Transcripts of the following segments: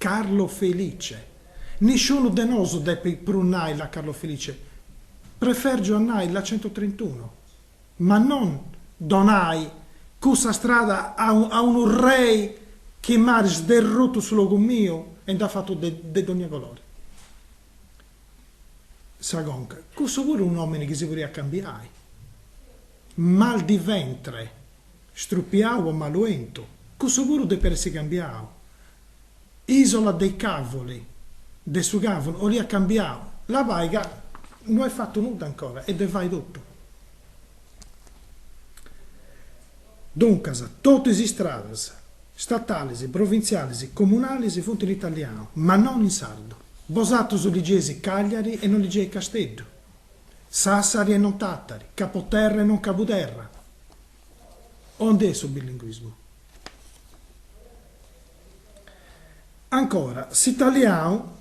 Carlo Felice. Nisciunu de nosu depit prus nai la Carlo Felice, prefergiu a nai la centotrentuno, ma non donai cussa strada a a unu rei chi m'at sderrutu su logu miu e nd'at fatu de de dònnia colori. Sa conca, cussu puru unu nòmini chi si podiat cambiai, Mal di Ventre Strupiau o Malu 'Entu. Cussu puru depiat essi cambiau. Isola dei Cavoli, de su càvuru, 'oliat cambiau. Labai ca no est fatu nudda ancora, est de fai totu. Duncas, totu is istradas, statalis, provintzialis, comunalis, funt in italianu, ma non in sardu. Bosatrus ligeis Cagliari e non ligeis Casteddu, Sassari e non Tattari, Capoterra e non Cabuderra. Aundi est su bilinguismu? Ancora, s'italianu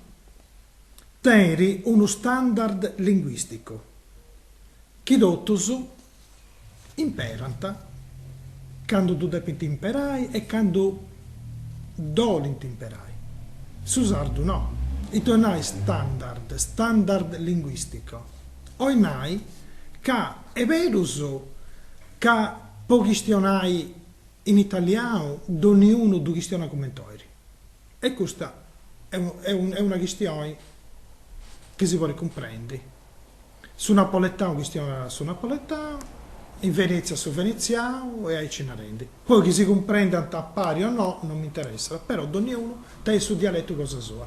tenit unu standard linguisticu chi totus imperant candu ddu depint imperai e candu ddu 'olint imperai. Su sardu no. Ita 'olit nai standard, standard linguistico? 'Olit nai ca est berus ca po chistionai in italianu donniunu ddu chistionat cumenti 'olit. E custa est una chistioni chi si podit cumprendi. Su napoletanu chistionat su napoletanu, in Venètzia su venetzianu e aici narendi. Poi chi si cumprendant a pari o no non m'interessat, però donniunu tenit su dialetu cosa sua.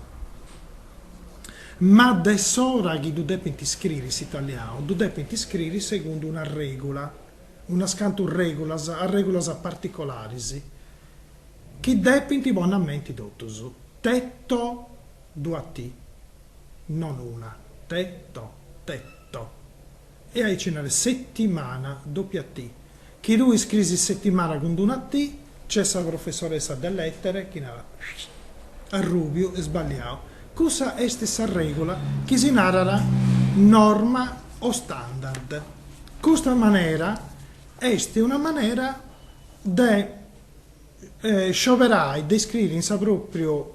Ma de s'ora chi ddu depint iscriri s'italianu, ddu depint iscriri segundu una règula, unas cantu règulas, arrègulas particolaris, chi depint ponni a menti totus, tetto, duas T, non una, tetto, tetto. E aici narat settimana, dopia T. Chi tui scriis settimana cun d'una T, nc'est sa professoressa de lètere chi narat, arrùbiu, est sballiau. Cussa est sa règula chi si narat norma o standard. Custa manera est una manera de scioberai, de iscriri in sa pròpriu.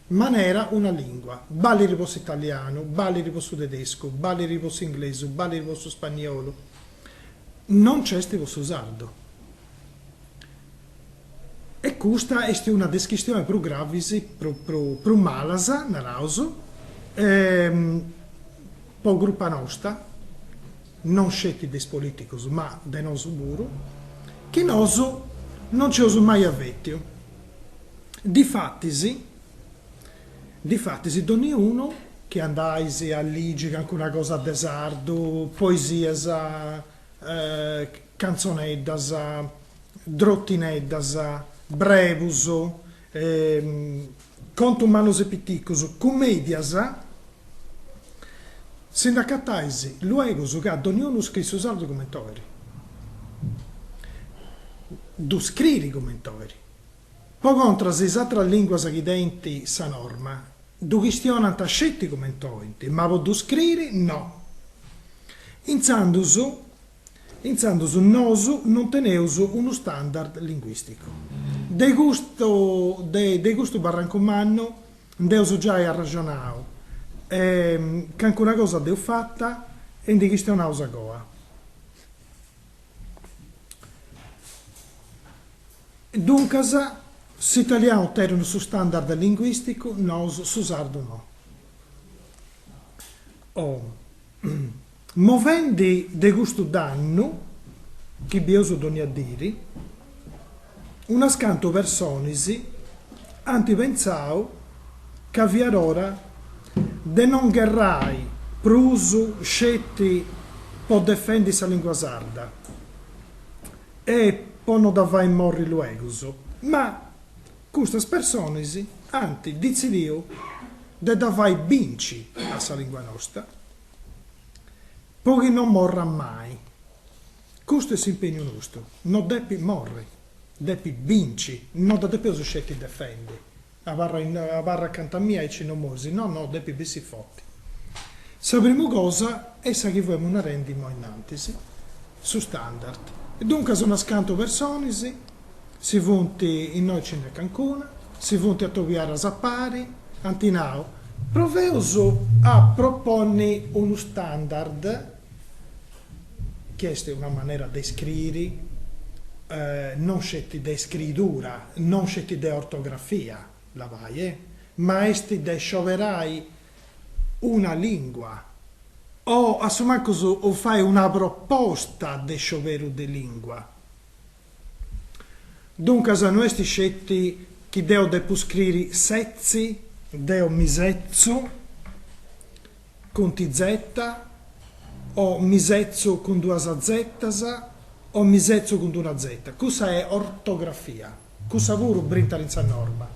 manera una lìngua. Ballit po s'italianu, ballit po su tedescu, ballit po s'inglesu, ballit po su spaniolu. Non nc'est po su sardu. E custa est una de is chistionis prus gravis, prus malas, naraus, po crupa nosta, non sceti de is polìticus ma de nosu puru, chi nosu non nc'eus mai avètiu. Difatis, difatis donniunu chi andais a ligi cancuna cosa de sardu, poesias, cantzoneddas, drottineddas, brebus, contus mannus e piticus, cumedias, Si nd'acatais luegus ca donniunu scrit su sardu comenti 'oiri, ddu scriri comenti 'oiri. Po contras is atras lìnguas chi tenint sa norma ddu chistionant sceti comenti 'oint, ma po ddu scriri no. Intzandus Intzandus nosu non teneus unu standard linguisticu. De custu de de custu barrancu mannu nd'eus giai arraxonau e cancuna cosa dd'eus fata e ndi chistionaus a goa. Duncas, s'italianu tenit unu standard linguisticu, nosu su sardu no. Movendi de custu dannu chi bieus dònnia diri, unas cantu personis ant pentzau ca fiat ora de non gherrai prus sceti po defendi sa lìngua sarda e po no dda fai morri luegus, ma custas personis ant ditzidiu de dda fai binci a sa lìngua nosta. Po chi non morrat mai. Custu est s'impegnu nostu, no depit morri, depit binci, no dda depeus sceti defendi, abarra acanta mia aici no moris, no, no, depit bessi forti. Sa primu cosa est sa chi fuemus narendi imoi innantis, su standard. Duncas unas cantu personis. Si funt, innoi ci nd'est cancuna, si funt atobiaras a pari, ant nau, proveus a proponni unu standard, chi est una manera de scriri, non sceti de scridura, non sceti de ortografia, labai, e, ma est de scioberai una lìngua, o a su mancus fai una proposta de scioberu de lìngua. Duncas no est sceti chi deo depu scriri setzi, deo mi setzu cun ti zeta, o mi setzu cun duas zetas o mi setzu cun d'una zeta, cussa est ortografia, cussa puru brintat in sa norma,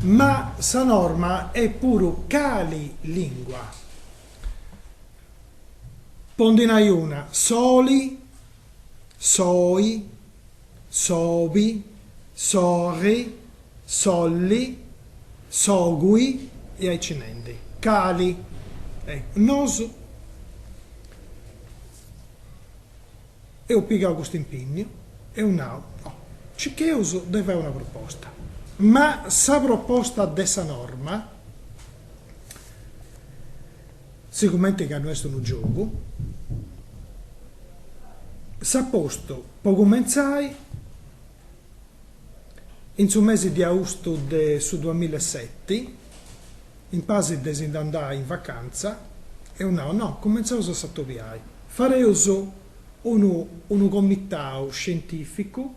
ma sa norma est puru cali lingua, po ndi nai una, soli soi, sobi, sorri, solli, sogui e aici nendi. Cali? Nosu eus pigau custu impinniu, eus nau, no, cicheus de fai una proposta, ma sa proposta de sa norma, Sigumenti ca no est unu giogu, s'at postu, po cumentzai in su mesi de austu de su duamilla e seti, in pasi de si-nd'andai in vacantza, eus nau, no, cumentzaus a s'atobiai, fareus unu unu comitau scientificu,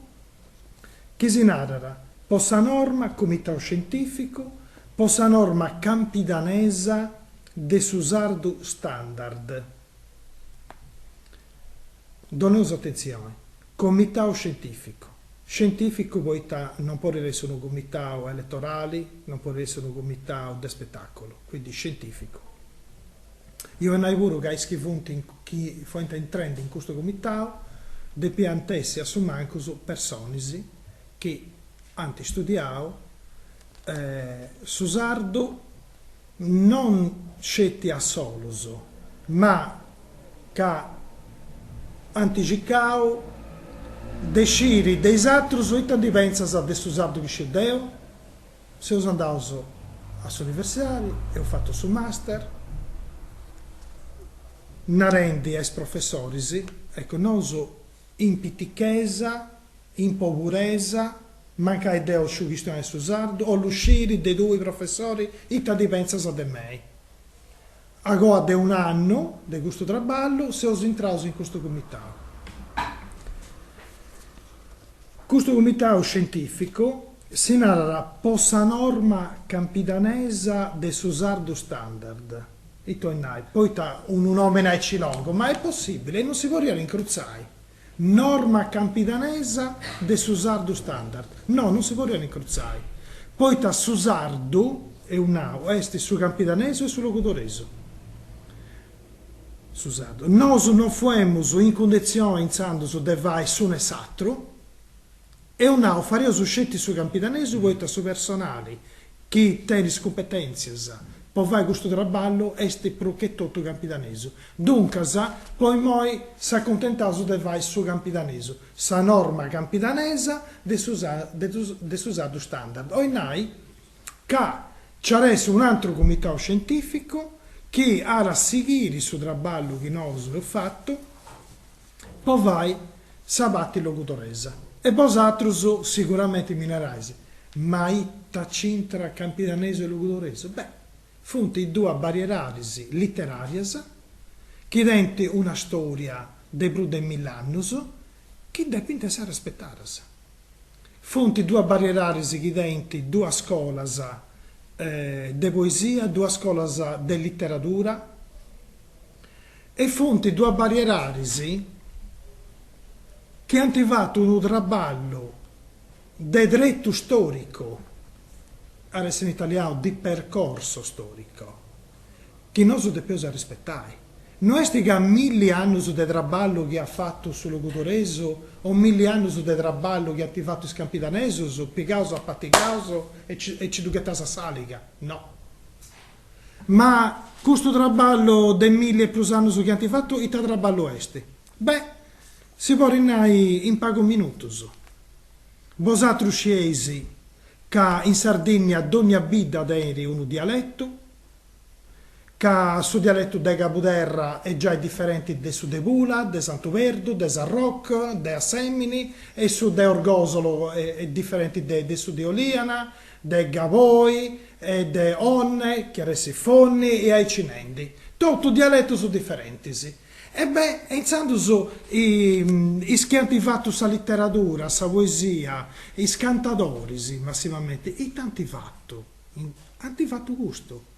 Chi si narat, po sa norma Comitau Scientìficu po sa norma campidanesa de su sardu standard. Doneus atentzioni, Comitau Scientìficu, scientìficu poita non podit essi unu comitau eletorali, non podit essi unu comitau de spetàculu, quindi scientìficu. 'Olit nai puru ca is chi funt chi fiant intrendi in custu comitau depiant essi a su mancus personis chi ant studiau su sardu non sceti a solus ma ca ant circau de sciri de is atrus ita ndi pentzas de su sardu chi sciu deu. Seus andaus a s'universidadi, eus fatu su master, narendi a is professoris, eccu, nosu in pitichesa, in poburesa, mancai deu sciu chistionai su sardu, 'ollu sciri de tui professori ita ndi pentzas de mei. Agoa de un'annu de custu traballu seus intraus in custu cumitau. Custu cumitau scientìficu si narat po sa norma campidanesa de su sardu standard, ita 'olit nai, poita unu nòmini aici longu, ma est possìbili, non si podiat incrutzai. Norma campidanesa de su sardu standard, no, non si podiat incrutzai, poita su sardu, eus nau, est su campidanesu e su logudoresu. Su sardu. Nosu non fuemus in cundetzioni intzandus de fai s'unu e s'atru. Eus nau fareus sceti su campidanesu poita su personali chi tenit is cumpetèntzias po fai custu traballu est prus che totu campidanesu. Duncas, po imoi s'acuntentaus de fai su campidanesu, sa norma campidanesa de su de su sardu standard, 'olit nai ca nc'est un'antru cumitau scientificu chi at a sighiri su traballu chi nosu eus fatu, po fai sa parti logudoresa e bosatrus siguramenti mi narais, ma ita c'intrat campidanesu e logudoresu? Beh, funt is duas barrieradis literarias chi tenint una storia de prus de mill'annus chi depint essi arrespetadas. Funt duas barrieradis chi tenint duas scolas de poesia, duas scolas de literadura, E funt duas barrieradis chi ant fatu unu traballu de tretu storicu, at essi in italianu di percorso storico, chi nosu depeus arrispetai. No est ca milli annus de traballu chi at fatu su logudoresu o milli annus de traballu chi ant fatu is campidanesus pigaus, apatigaus e nci ddu ghettaus a s'aliga, no. Ma custu traballu de milli e prus annus chi ant fatu ita traballu est? Beh, si podit nai in pagus minutus. Bosatrus scieis ca in Sardinnia dogna bidda tenit unu dialetu, ca su dialetu de Cabuderra est giai diferenti de su de Pula, de Santu Perdu, de Sarroc, de Assemini e su de Orgosolo est diferenti de su de Oliana, de Gavoi e de Onne, chi at essi Fonni e aici nendi, totu dialetus diferentis. E beh, e intzandus is chi ant fatu sa literadura, sa poesia, is cantadoris massimamente ita ant fatu? Ant fatu custu.